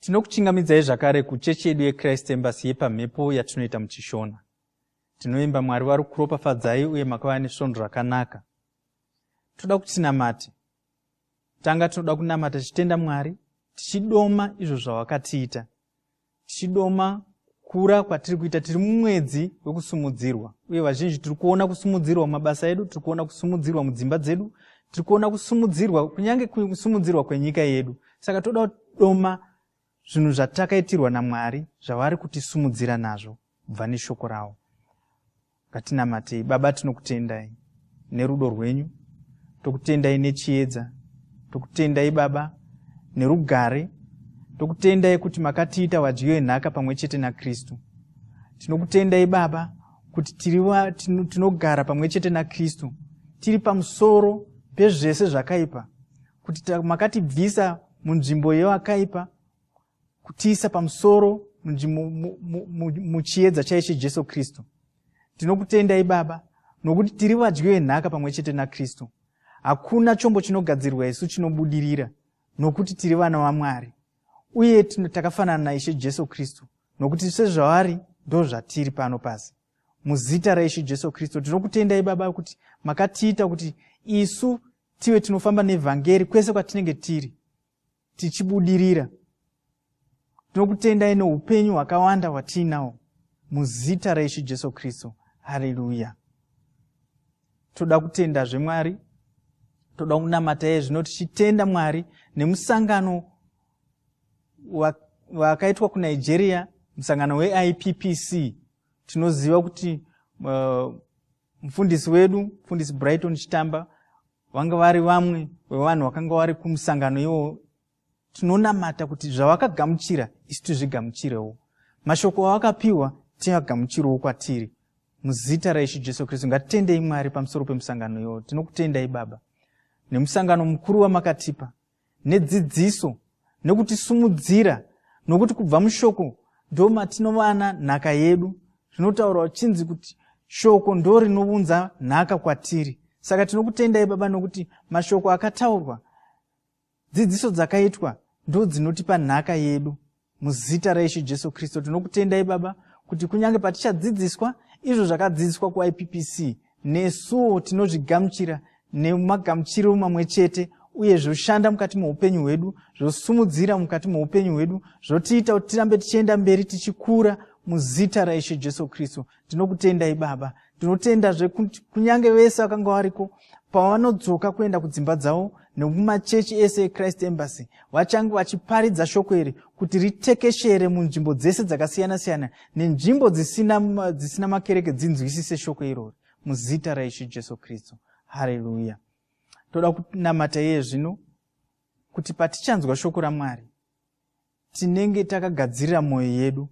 Tinokuchingamidzai zvakare kuchechi yedu yeChrist Embassy yepamhepo yatinoita muChishona. Tinoimba Mwari vari kuropafadzai uye makava nesvondo rakanaka. Toda kuti tinamate. Tanga tinoda kunamata tichitenda Mwari, tichidoma izvo zvawakatiita, tichidoma kukura kwatiri kuita tiri mumwedzi wekusumudzirwa uye vazhinji tiri kuona kusumudzirwa mumabasa edu tiri kuona kusumudzirwa mudzimba dzedu tiri kuona kusumudzirwa kunyange kusumudzirwa kwenyika yedu saka toda kudoma zvinhu zvatakaitirwa namwari zvavari kutisumudzira nazvo kubva neshoko ravo Ngatinamatei. Baba, tinokutendai nerudo rwenyu, tokutendai nechiedza, tokutendai Baba nerugare, tokutendai kuti makatiita vadyiyo enhaka pamwe chete naKristu. Tinokutendai Baba kuti tiriwa, tinogara pamwe chete naKristu, tiri pamusoro pezvese zvakaipa, kuti makatibvisa munzvimbo yewakaipa kutiisa pamusoro muchiedza chaishe jesu kristu tinokutendai baba nokuti tiri vadyi venhaka pamwe chete nakristu hakuna chombo chinogadzirwa isu chinobudirira nokuti tiri vana vamwari uye takafanana naishe jesu kristu nokuti sezvavari ndo zvatiri pano pasi muzita raishe jesu kristu tinokutendai baba kuti makatiita kuti isu tive tinofamba nevhangeri kwese kwatinenge tiri tichibudirira tinokutendai neupenyu hwakawanda hwatiinawo muzita raishe jesu kristu hareruya toda kutendazve mwari toda kunamata iye zvino tichitenda mwari nemusangano wakaitwa kunigeria musangano weippc tinoziva kuti uh, mufundisi wedu mufundisi brighton chitamba vanga vari vamwe vevanhu vakanga vari kumusangano iwo tinonamata kuti zvavakagamuchira isu tizvigamuchirewo mashoko avakapiwa tiagamuchirewo kwatiri muzita raishe jesu kristu ngatitendei mwari pamusoro pemusangano iwo tinokutendai baba nemusangano mukuru wamakatipa nedzidziso nekutisimudzira nokuti kubva mushoko ndo matinovana nhaka yedu zvinotaurwa uchinzi kuti shoko ndo rinounza nhaka kwatiri saka tinokutendai baba nokuti mashoko akataurwa dzidziso dzakaitwa ndo dzinotipa nhaka yedu muzita raishe jesu kristu tinokutendai baba kuti kunyange patichadzidziswa izvo zvakadzidziswa kuippc nesuwo tinozvigamuchira nemagamuchiro mamwe chete uye zvoshanda mukati moupenyu hwedu zvosumudzira mukati moupenyu hwedu zvotiita kuti tirambe tichienda mberi tichikura muzita raishe jesu kristu tinokutendai baba tinotenda zvekuti kunyange vese vakanga variko pavanodzoka kuenda kudzimba dzavo nekumachechi ese echrist embassy vachange vachiparidza shoko iri kuti ritekeshere munzvimbo dzese dzakasiyana-siyana nenzvimbo dzisina, dzisina makereke dzinzwisise shoko irori muzita raishe jesu kristu hareruya toda kunamata iye zvino kuti patichanzwa shoko ramwari tinenge takagadzirira mwoyo yedu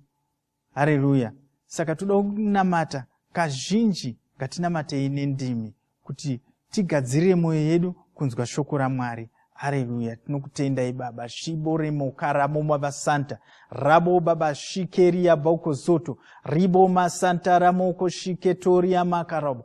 hareruya saka toda kunamata kazhinji ngatinamatei nendimi kuti tigadzirire mwoyo yedu kunzwa shoko ramwari hareruya tinokutendai baba svibo remokaramo mavasanta rabo baba shikeriya baukozoto ribo masanta ramoko shiketoria makarabo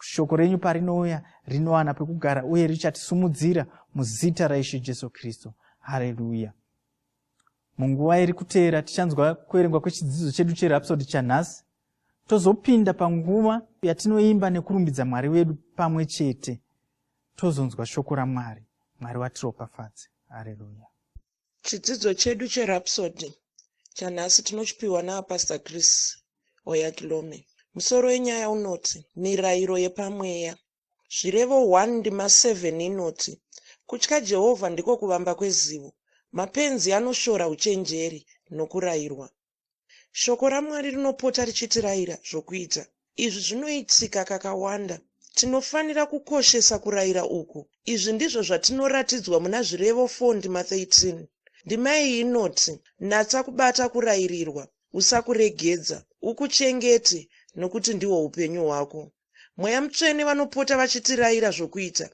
shoko renyu parinouya rinowana pekugara uye richatisumudzira muzita raishe jesu kristu hareruya munguva iri kuteera tichanzwa kuverengwa kwechidzidzo chedu cherapsodi chanhasi tozopinda panguva yatinoimba nekurumbidza mwari wedu pamwe chete tozonzwa shoko ramwari mwari watiropafadze hareruya Chidzidzo chedu cheRhapsody chanhasi tinochipiwa naPastor Chris Oyakilome. Musoro wenyaya unoti Mirayiro Yepamweya. Zvirevo 1 ndima 7 inoti kutya Jehovha ndiko kuvamba kwezivo, mapenzi anoshora uchenjeri nokurayirwa. Shoko raMwari rinopota richitirayira zvokuita. Izvi zvinoitika kakawanda. Tinofanira kukoshesa kurayira uku. Izvi ndizvo zvatinoratidzwa muna Zvirevo 4 ndima 13. Ndima iyi inoti, Natsa kubata kurayirirwa, usakuregedza, ukuchengete, nokuti ndihwo upenyu hwako. Mweya Mutsvene vanopota vachitirayira zvokuita.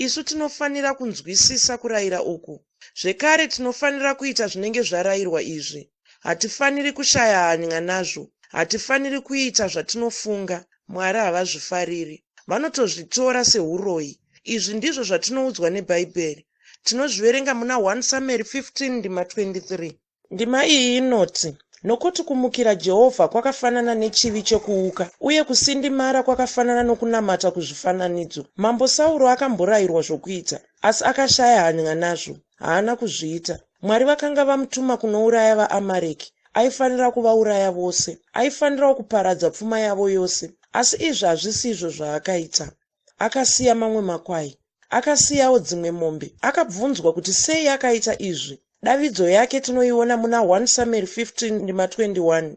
Isu tinofanira kunzwisisa kurayira uku. Zvekare, tinofanira kuita zvinenge zvarayirwa izvi. Hatifaniri kushaya hany'a nazvo. Hatifaniri kuita zvatinofunga Mwari havazvifariri. Vanotozvitora sehuroyi. Izvi ndizvo zvatinoudzwa neBhaibheri. Tinozviverenga muna 1 Samueri 15 ndima 23. Ndima iyi inoti, Nokuti kumukira Jehovha kwakafanana nechivi chokuuka, uye kusindimara kwakafanana nokunamata kuzvifananidzo. Mambo Sauro akamborayirwa zvokuita, asi akashaya hany'a nazvo. Haana kuzviita. Mwari vakanga vamutuma kunouraya vaAmareki. Aifanira kuvauraya vose. Aifanirawo kuparadza pfuma yavo yose. Asi izvi hazvisi izvo zvaakaita. Akasiya mamwe makwai. Akasiyawo dzimwe mombe. Akabvunzwa kuti sei akaita izvi. Davidzo yake tinoiona muna 1 Samueri 15 ndima 21.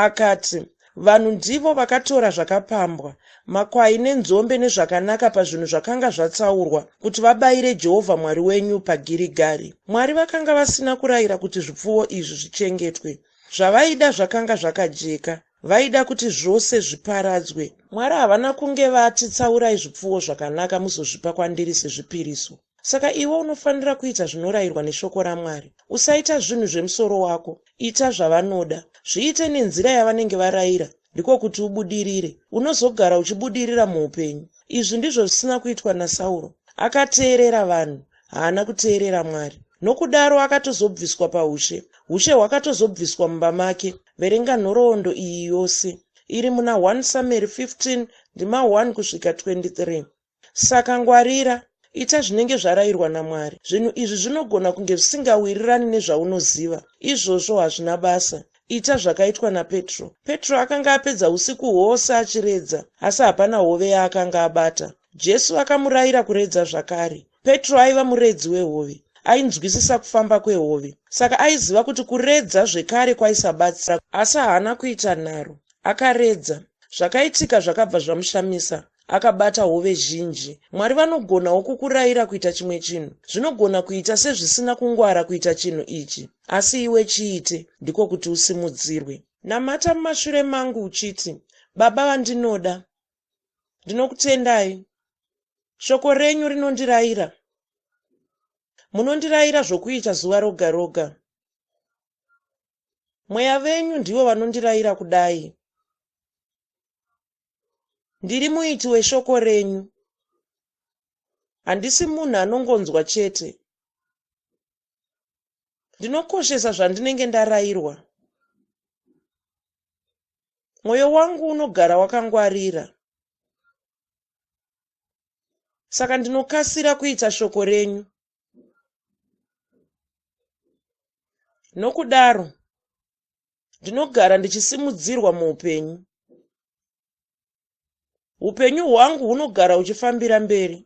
Akati, Vanhu ndivo vakatora zvakapambwa, makwai nenzombe nezvakanaka pazvinhu zvakanga zvatsaurwa, kuti vabayire Jehovha Mwari wenyu paGirigari. Mwari vakanga vasina kurayira kuti zvipfuwo izvi zvichengetwe. Zvavaida zvakanga zvakajeka. Vaida kuti zvose zviparadzwe. Mwari havana kunge vati, Tsaurai zvipfuwo zvakanaka muzozvipa kwandiri sezvipiriso. Saka iwe unofanira kuita zvinorayirwa neShoko raMwari. Usaita zvinhu zvemusoro wako. Ita zvavanoda. Zviite nenzira yavanenge varayira, ndiko kuti ubudirire. Unozogara uchibudirira muupenyu. Izvi ndizvo zvisina kuitwa naSauro. Akateerera vanhu, haana kuteerera Mwari. Nokudaro akatozobviswa paushe. Ushe hwakatozobviswa mumba make. Verenga nhoroondo iyi yose. Iri muna 1 Samueri 15 ndima 1 kusvika 23. Saka ngwarira, ita zvinenge zvarayirwa naMwari. Zvinhu izvi zvinogona kunge zvisingawirirani nezvaunoziva. Izvozvo hazvina basa. Ita zvakaitwa naPetro. Petro akanga apedza usiku hwose achiredza, asi hapana hove yaakanga abata. Jesu akamurayira kuredza zvakare. Petro aiva muredzi wehove. Ainzwisisa kufamba kwehove, saka aiziva kuti kuredza zvekare kwaisabatsira. Asi haana kuita nharo. Akaredza. Zvakaitika zvakabva zvamushamisa. Akabata hove zhinji. Mwari vanogonawo kukurayira kuita chimwe chinhu. Zvinogona kuita sezvisina kungwara kuita chinhu ichi. Asi iwe chiite, ndiko kuti usimudzirwe. Namata mumashure mangu uchiti, Baba vandinoda. Ndinokutendai. Shoko renyu rinondiraira. Munondiraira zvokuita zuva roga roga. Mweya venyu ndivo vanondiraira kudai. Ndiri muiti weshoko renyu. Handisi munhu anongonzwa chete. Ndinokoshesa zvandinenge ndarairwa. mwoyo wangu unogara wakangwarira. Saka ndinokasira kuita shoko renyu. Nokudaro, ndinogara ndichisimudzirwa muupenyu. Upenyu hwangu hunogara huchifambira mberi.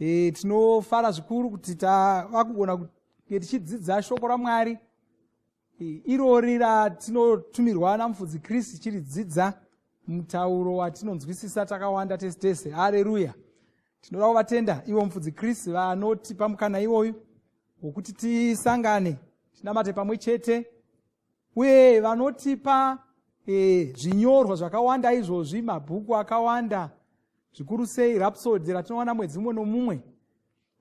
e, tinofara zvikuru kuti tava kugona kunge tichidzidza shoko ramwari e, irori ratinotumirwa namufudzi kristu tichiridzidza mutauro watinonzwisisa takawanda tese tese hareruya tinoda kuvatenda ivo mufudzi kristu vanotipa mukana iwoyu wokuti tisangane tinamate pamwe chete uye vanotipa e, zvinyorwa zvakawanda izvozvi mabhuku akawanda zvikuru sei rapsodi ratinowana mwedzi mumwe nomumwe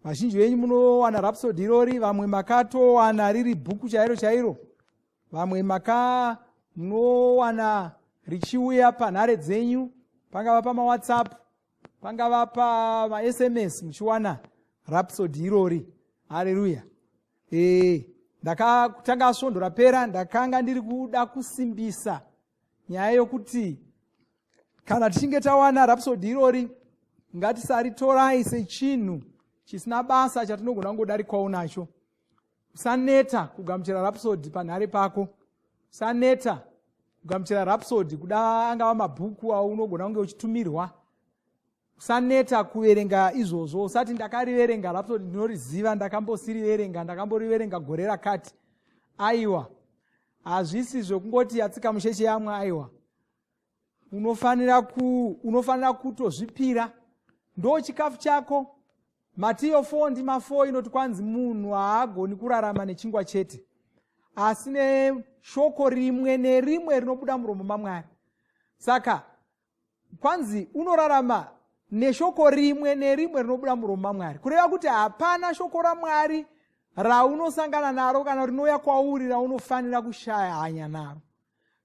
vazhinji venyu munowana rapsodi irori vamwe makatowana riri bhuku chairo chairo vamwe maka munowana richiuya panhare dzenyu pangava pamawhatsapp pangava pamasms muchiwana rapsodi irori hareruya ee ndakatanga svondo rapera ndakanga ndiri kuda kusimbisa nyaya yokuti kana tichinge tawana rapsodi irori ngatisaritorai sechinhu chisina basa chatinogona kungodarikwawo nacho usaneta kugamuchira rapsodi panhare pako usaneta kugamuchira rapsodi kuda angava mabhuku aunogona kunge uchitumirwa usaneta kuverenga izvozvo usati ndakariverenga rapsodi ndinoriziva ndakambosiriverenga ndakamboriverenga gore rakati aiwa hazvisi zvekungoti yatsika musheche yamwe aiwa unofanira ku unofanira kutozvipira ndo chikafu chako matiyo fo ndi mafo inoti kwanzi munhu haagoni kurarama nechingwa chete asi neshoko rimwe nerimwe rinobuda muromo mamwari saka kwanzi unorarama neshoko rimwe nerimwe rinobuda muromo mamwari kureva kuti hapana shoko ramwari raunosangana naro kana rinouya kwauri raunofanira kushaya hanya naro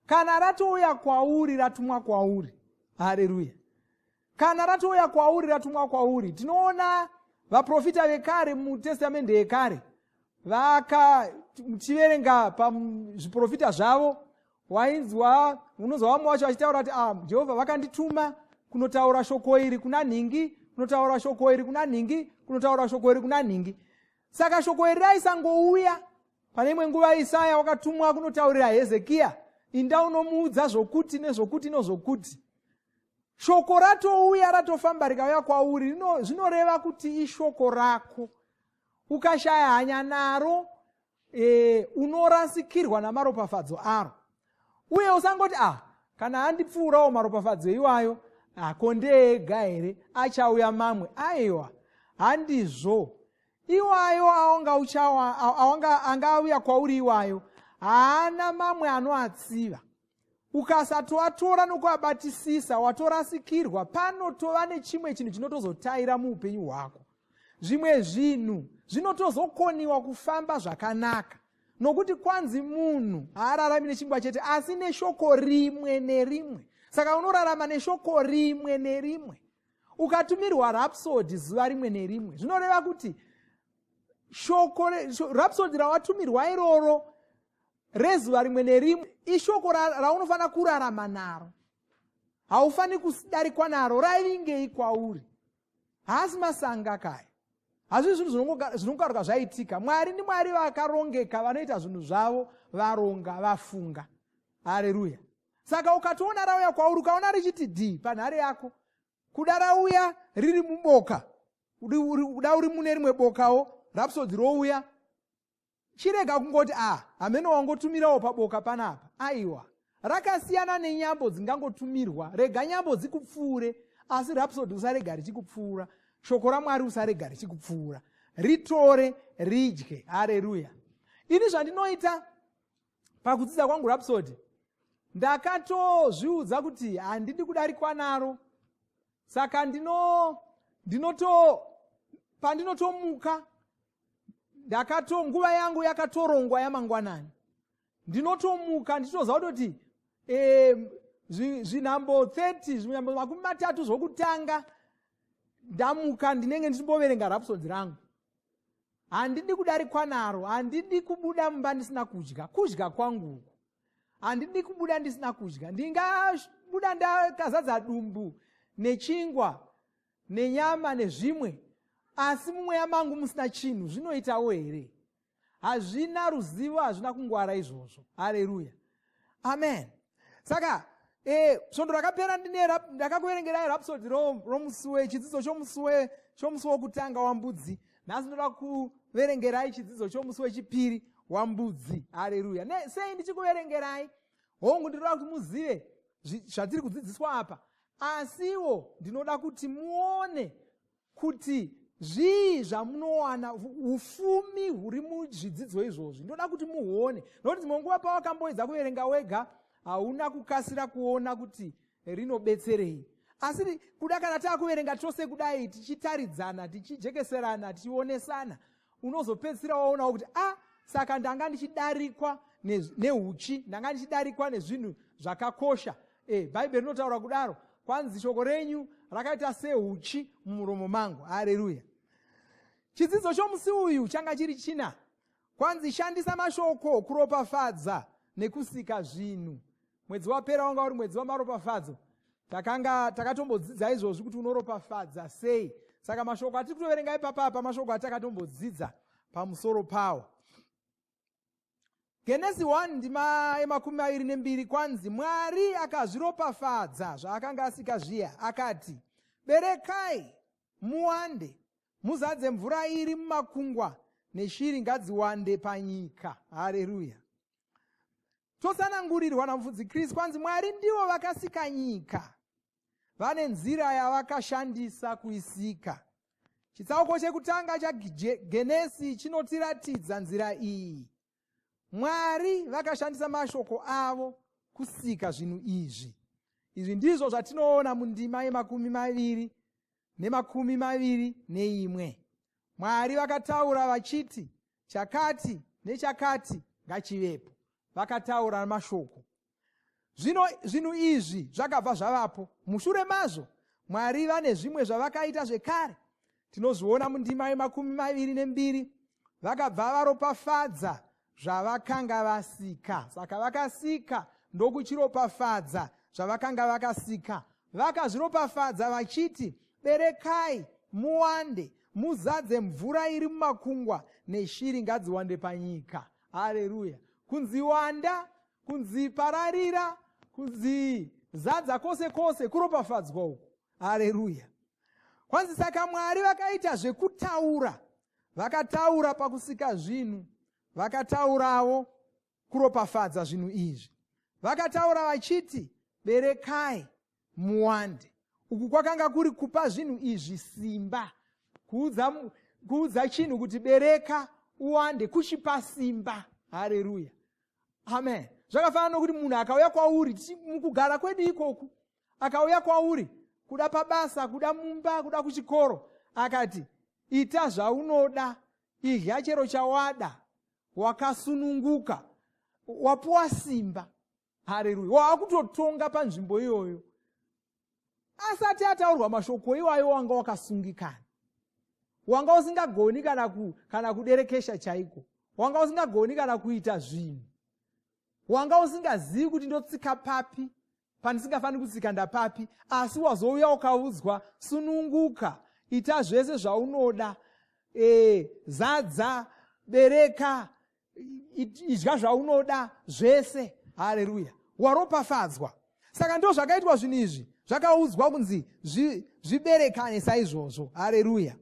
kana ratouya kwauri ratumwa kwauri hareruya kana ratouya kwauri ratumwa kwauri tinoona vaprofita vekare mutestamende yekare vaka muchiverenga pazviprofita zvavo wainzwa unonzwa vamwe vacho vachitaura kuti ah, jehovha vakandituma kunotaura shoko iri kuna nhingi kunotaura shoko iri kuna nhingi kunotaura shoko iri kuna nhingi saka shoko iri raisangouya pane imwe nguva isaya wakatumwa kunotaurira hezekiya inda unomuudza zvokuti nezvokuti nozvokuti shoko ratouya ratofamba rikauya kwauri zvinoreva kuti ishoko rako ukashaya hanya naro e, unorasikirwa namaropafadzo aro uye usangoti ah kana andipfuurawo maropafadzo iwayo hako ndeega here achauya mamwe aiwa handizvo iwayo aonga uchawa aonga anga auya kwauri iwayo haana mamwe anoatsiva ukasatoatora nokuabatisisa watorasikirwa panotova nechimwe chinhu chinotozotaira muupenyu hwako zvimwe zvinhu zvinotozokoniwa kufamba zvakanaka nokuti kwanzi munhu haararami nechingwa chete asi neshoko rimwe nerimwe saka unorarama neshoko rimwe nerimwe ukatumirwa rapsodi zuva rimwe nerimwe zvinoreva kuti shoko rapsodi rawatumirwa iroro rezuva rimwe nerimwe ishoko raunofanira kurarama naro haufaniri kudarikwa naro raivingei kwauri haasi masanga kaya hazvii zvinhu zvinongokaruka zvaitika mwari ndimwari vakarongeka vanoita zvinhu zvavo varonga vafunga hareruya saka ukatoona rauya kwauri ukaona richiti d panhare yako kuda rauya riri muboka kuda uri mune rimwe bokawo rapsodzi rouya chirega kungoti a ah, hameno wangotumirawo paboka panapa aiwa rakasiyana nenyambo dzingangotumirwa rega nyambo dzikupfuure asi rapsodi usarega richikupfuura shoko ramwari usarega richikupfuura ritore ridye hareruya ini zvandinoita pakudzidza kwangu rapsody ndakatozviudza kuti handidi kudarikwa naro saka ndino ndinoto pandinotomuka ndakato nguva yangu yakatorongwa yamangwanani ndinotomuka ndichitoziva kutoti eh, zvinhambo 30 zvinhambo makumi matatu zvokutanga ndamuka ndinenge ndichimboverenga rapsodi rangu Handidi kudarikwa naro, handidi kubuda mumba ndisina kudya, kudya kwangu uku. Handidi kubuda ndisina kudya, ndingabuda ndakazadza dumbu nechingwa nenyama nezvimwe, asi mumweya mangu musina chinhu zvinoitawo here? Hazvina ruzivo, hazvina kungwara izvozvo. Hareruya! amen saka eh, svondo rakapera ndine ndakakuverengerai rapsodi romusi wechidzidzo chomusi chomusi wokutanga wambudzi nhasi ndoda kuverengerai chidzidzo chomusi wechipiri wambudzi hareruya sei ndichikuverengerai hongu ndinoda kuti muzive zvatiri kudzidziswa apa asiwo ndinoda kuti muone kuti zvii zvamunowana ufumi huri muzvidzidzo izvozvi ndoda kuti muone nokuti dzimwe nguva pawakamboedza kuverenga wega hauna kukasira kuona kuti rinobetserei asi kuda kana taakuverenga tose kudai tichitaridzana tichijekeserana tichionesana unozopedzisira waonawo kuti a ah, saka ndanga ndichidarikwa neuchi ne ndanga ndichidarikwa nezvinhu zvakakosha e, bhaibheri rinotaura kudaro kwanzi shoko renyu rakaita seuchi mumuromo mangu hareruya chidzidzo chomusi uyu changa chiri china kwanzi shandisa mashoko kuropafadza nekusika zvinhu mwedzi wapera wanga uri mwedzi wamaropafadzo takanga takatombodzidza izvozvi kuti unoropafadza sei saka mashoko atiri kutoverenga ipapa apa mashoko atakatombodzidza pamusoro pawo genesi 1 ndima yemakumi maviri nembiri kwanzi mwari akazviropafadza zvaakanga asika zviya akati berekai muwande muzadze mvura iri mumakungwa neshiri ngadziwande panyika hareruya Totsanangurirwa naMufudzi Kristu kwanzi Mwari ndivo vakasika nyika. Vane nzira yavakashandisa kuisika. Chitsauko chekutanga chaGenesi chinotiratidza nzira iyi. Mwari vakashandisa mashoko avo kusika zvinhu izvi. Izvi ndizvo zvatinoona mundima yemakumi maviri nemakumi maviri neimwe. Mwari vakataura vachiti, chakati nechakati ngachivepo vakataura mashoko zvino zvinhu izvi zvakabva zvavapo mushure mazvo mwari vane zvimwe zvavakaita zvekare tinozviona mundima yemakumi maviri nembiri vakabva varopafadza zvavakanga vasika saka vakasika ndokuchiropafadza zvavakanga vakasika vakazviropafadza vachiti berekai muwande muzadze mvura iri mumakungwa neshiri ngadziwande panyika hareruya kunzi wanda kunzi pararira kunzi zadza kwose kwose kuropafadzwa uku hareruya kwanzi saka mwari vakaita zvekutaura vakataura pakusika zvinhu vakataurawo kuropafadza zvinhu izvi vakataura vachiti berekai muwande uku kwakanga kuri kupa zvinhu izvi simba kuudza, kuudza chinhu kuti bereka uwande kuchipa simba hareruya amen zvakafanana nokuti munhu akauya kwauri mukugara kwedu ikoku akauya kwauri kuda pabasa kuda mumba kuda kuchikoro akati ita zvaunoda idya chero chawada wakasununguka wapuwa simba hareruya waakutotonga panzvimbo iyoyo asati ataurwa mashoko iwayo wanga wakasungikana wanga usingagoni kana ku, kana kuderekesha chaiko wanga usingagoni kana kuita zvinhu wanga usingazivi kuti ndotsika papi pandisingafaniri kutsika ndapapi asi wazouya ukaudzwa sununguka ita zvese zvaunoda e, zadza bereka idya zvaunoda zvese hareruya waropafadzwa saka ndo zvakaitwa zvinhu izvi zvakaudzwa kunzi zviberekane saizvozvo hareruya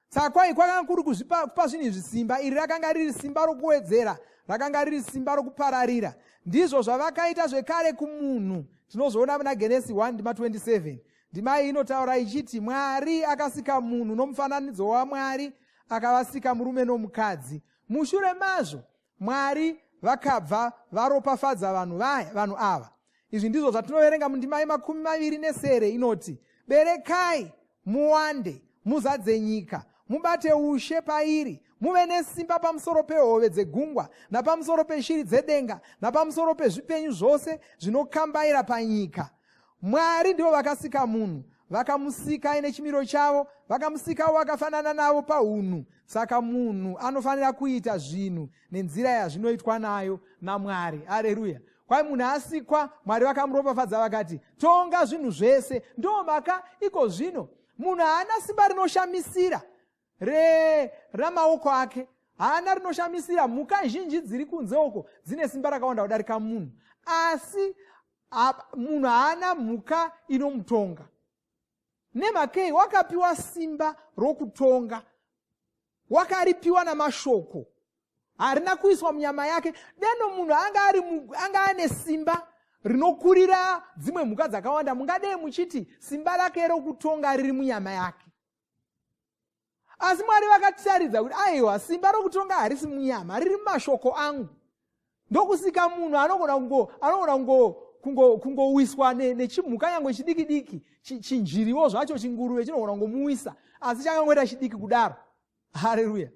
saka kwai kwakanga kuri kuzvipa kupa zvinhu izvi simba iri rakanga riri simba rokuwedzera rakanga riri simba rokupararira ndizvo zvavakaita zvekare kumunhu tinozoona muna genesi 1 ndima 27 ndima iyi inotaura ichiti mwari akasika munhu nomufananidzo wamwari akavasika murume nomukadzi mushure mazvo mwari vakabva varopafadza vanhu vaya vanhu ava izvi ndizvo zvatinoverenga mundima yemakumi maviri nesere inoti berekai muwande muzadze nyika mubate ushe pairi muve nesimba pamusoro pehove dzegungwa napamusoro peshiri dzedenga napamusoro pezvipenyu zvose zvinokambaira panyika mwari ndivo vakasika munhu vakamusika aine chimiro chavo vakamusikawo vakafanana navo paunhu saka munhu anofanira kuita zvinhu nenzira yazvinoitwa nayo namwari areruya kwai munhu asikwa mwari vakamuropafadza vakati tonga zvinhu zvese ndomaka iko zvino munhu haana simba rinoshamisira re ramaoko ake haana rinoshamisira mhuka zhinji dziri kunze uko dzine simba rakawanda kudarika munhu asi munhu haana mhuka inomutonga nemhakei wakapiwa simba rokutonga wakaripiwa namashoko harina kuiswa munyama yake deno munhu anga ane simba rinokurira dzimwe mhuka dzakawanda mungadei muchiti simba rake rokutonga riri munyama yake asi mwari vakatisaridza kuti aiwa simba rokutonga harisi munyama riri mumashoko angu ndokusika munhu anogona kungo anogona kungo kungowiswa nechimhuka nyange chidiki diki chinjiriwo zvacho chinguruve chinogona kungomuwisa asi changangoita chidiki kudaro hareruya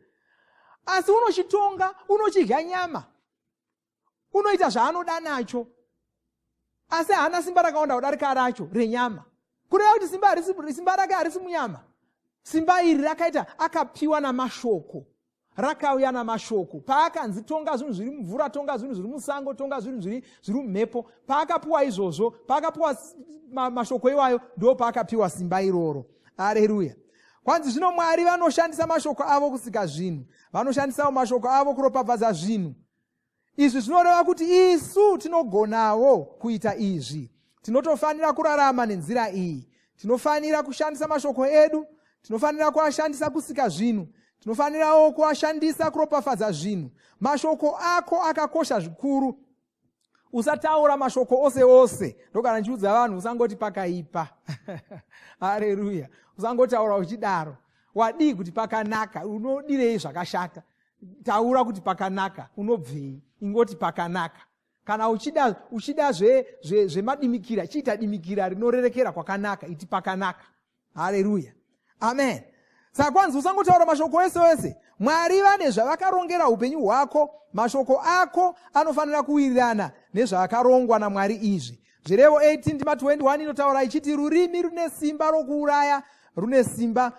asi unochitonga unochidya nyama unoita zvaanoda nacho asi haana simba rakawanda kudarika racho renyama kureva kuti simba, simba rake harisi munyama simba iri rakaita akapiwa namashoko rakauya namashoko paakanzi tonga zvinhu zviri mumvura tonga zvinhu zviri musango tonga zvinhu zviri zviri mumhepo paakapiwa izvozvo paakapiwa ma, mashoko iwayo ndo paakapiwa simba iroro areruya kwanzi zvino mwari vanoshandisa mashoko avo kusika zvinhu vanoshandisawo mashoko avo kuropafadza zvinhu izvi zvinoreva kuti isu tinogonawo kuita izvi tinotofanira kurarama nenzira iyi tinofanira kushandisa mashoko edu tinofanira kuashandisa kusika zvinhu tinofanirawo kuashandisa kuropafadza zvinhu mashoko ako akakosha zvikuru usataura mashoko ose ose ndokana ndichiudza vanhu usangoti pakaipa hareruya usangotaura uchidaro wadii kuti pakanaka unodirei zvakashata taura kuti pakanaka unobvei ingoti pakanaka kana uchida uchida zvemadimikira zve, zve chiita dimikira rinorerekera kwakanaka iti pakanaka hareruya amen saka kwanzi usangotaura mashoko ese ese mwari vane zvavakarongera upenyu hwako mashoko ako anofanira kuwirirana nezvakarongwa namwari izvi zvirevo 18 ndima 21 inotaura ichiti rurimi rune simba rokuuraya rune simba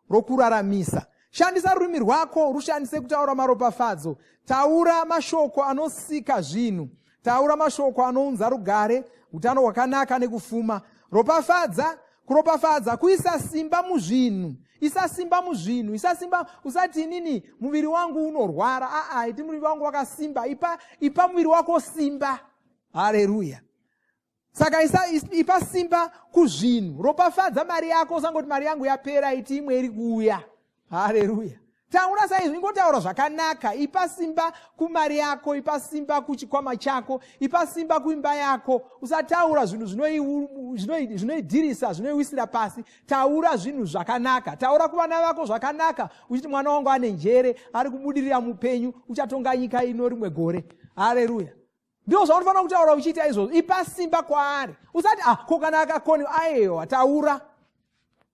rokuraramisa Shandisa rurimi rwako rushandise kutaura maropafadzo. Taura mashoko anosika zvinhu. Taura mashoko anounza rugare, utano hwakanaka nekufuma. Ropafadza, kuropafadza kuisa simba muzvinhu. Isa simba muzvinhu, isa simba usati inini muviri wangu unorwara. Aa, iti muviri wangu wakasimba. Ipa, ipa muviri wako simba. Haleluya. saka isa ipa simba kuzvinhu ropafadza mari yako usangoti mari yangu yapera iti imwe iri kuuya hareruya taura saizvi ingotaura zvakanaka ipa simba kumari yako ipa simba kuchikwama chako ipa simba kuimba yako usataura zvinhu zvinoidirisa zvinoiwisira pasi taura zvinhu zvakanaka taura kuvana vako zvakanaka uchiti mwana wangu ane njere ari kubudirira mupenyu uchatonga nyika ino rimwe gore hareruya ndizvo zvaunofanira kutaura uchiita izvozvo ipa simba kwaari usati ah ko kana akakoni ayewa taura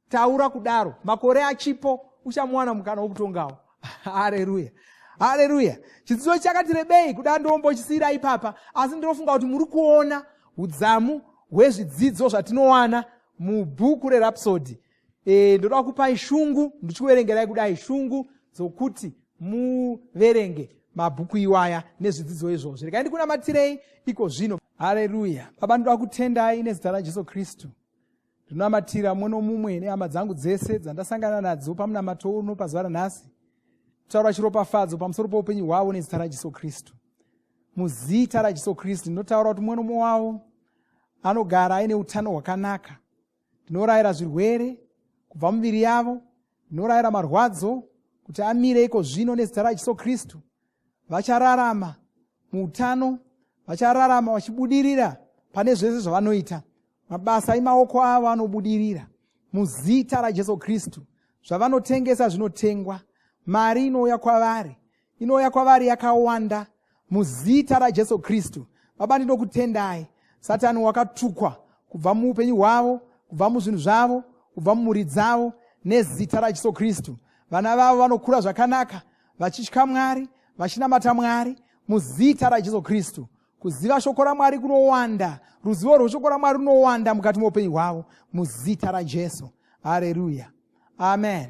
taura kudaro makore achipo uchamuwana mukana wokutongawo hareruya hareruya chidzidzo chakati rebei kuda ndombochisiyira ipapa asi ndinofunga kuti muri kuona udzamu hwezvidzidzo zvatinowana mubhuku rerapsodi e, ndoda kupai shungu ndichikuverengerai kudai shungu dzokuti muverenge mabhuku iwaya nezvidzidzo izvozvo rekai ndikunamatirei iko zvino hareruya baba ndoda kutendai nezita rajesu kristu ndinonamatira mumwe nomumwe nehama dzangu dzese dzandasangana nadzo pamunamato uno pazuva ranhasi kutaura chiropafadzo pamusoro poupenyu hwavo nezita rajesu kristu muzita rajesu kristu ndinotaura kuti mumwe nomumwe wavo anogara aine utano hwakanaka ndinorayira zvirwere kubva mumiviri yavo ndinorayira marwadzo kuti amire iko zvino nezita rajesu kristu vachararama muutano vachararama vachibudirira pane zvese zvavanoita mabasa emaoko avo anobudirira muzita rajesu kristu zvavanotengesa zvinotengwa mari inouya kwavari inouya kwavari yakawanda muzita rajesu kristu baba ndinokutendai satani wakatukwa kubva muupenyu hwavo kubva muzvinhu zvavo kubva mumhuri dzavo nezita rajesu kristu vana vavo vanokura zvakanaka vachitya mwari vachinamata mwari muzita rajesu kristu kuziva shoko ramwari kunowanda ruzivo rweshoko ramwari runowanda mukati meupenyu hwavo muzita rajesu hareruya amen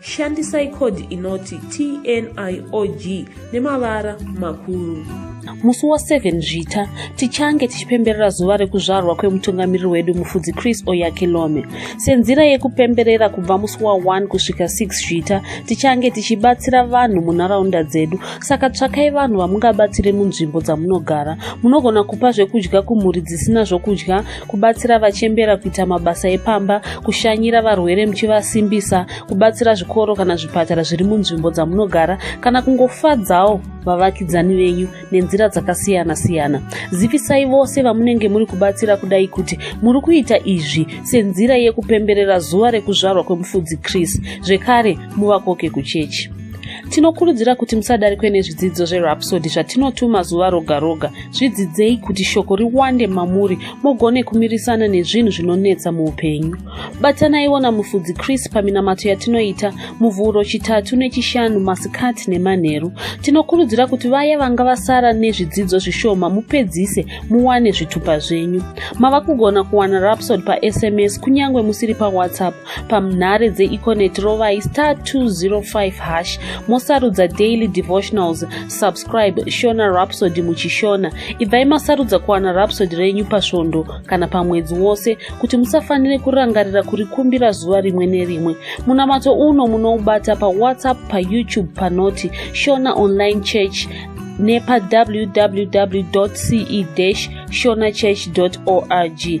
Shandisai code inoti TNIOG nemavara makuru. Musi wa 7 Zvita tichange tichipemberera zuva rekuzvarwa kwemutungamiriri wedu Mufudzi Chris Oyakilome. Senzira yekupemberera kubva musi wa 1 kusvika 6 Zvita tichange tichibatsira vanhu munharaunda dzedu. Saka tsvakai vanhu vamungabatsire munzvimbo dzamunogara. Munogona kupa zvekudya kumhuri dzisina zvokudya kubatsira vachembera kuita mabasa epamba kushanyira varwere muchivasimbisa kubatsira zvikoro kana zvipatara zviri munzvimbo dzamunogara kana kungofadzawo vavakidzani venyu nenzira dzakasiyana siyana zivisai vose vamunenge muri kubatsira kudai kuti muri kuita izvi senzira yekupemberera zuva rekuzvarwa kwemufudzi chris zvekare muvakoke kuchechi tinokurudzira kuti musadarikwe nezvidzidzo zverapsodi zvatinotuma zuva roga roga zvidzidzei kuti shoko riwande mamuri mugone kumirisana nezvinhu zvinonetsa muupenyu batanaiwo namufudzi chris paminamato yatinoita muvhuro chitatu nechishanu masikati nemanheru tinokurudzira kuti vaya vanga vasara nezvidzidzo zvishoma mupedzise muwane zvitupa zvenyu mava kugona kuwana rapsod pasms kunyange musiri pawhatsapp pamnhare dzeeconet rovai star 205 hash mosarudza daily devotionals subscribe shona rapsody muchishona ibvai masarudza kuwana rapsody renyu pasvondo kana pamwedzi wose kuti musafanire kurangarira kurikumbira zuva rimwe nerimwe munamato uno munoubata pawhatsapp payoutube panoti shona online church nepawww ce shonachurch org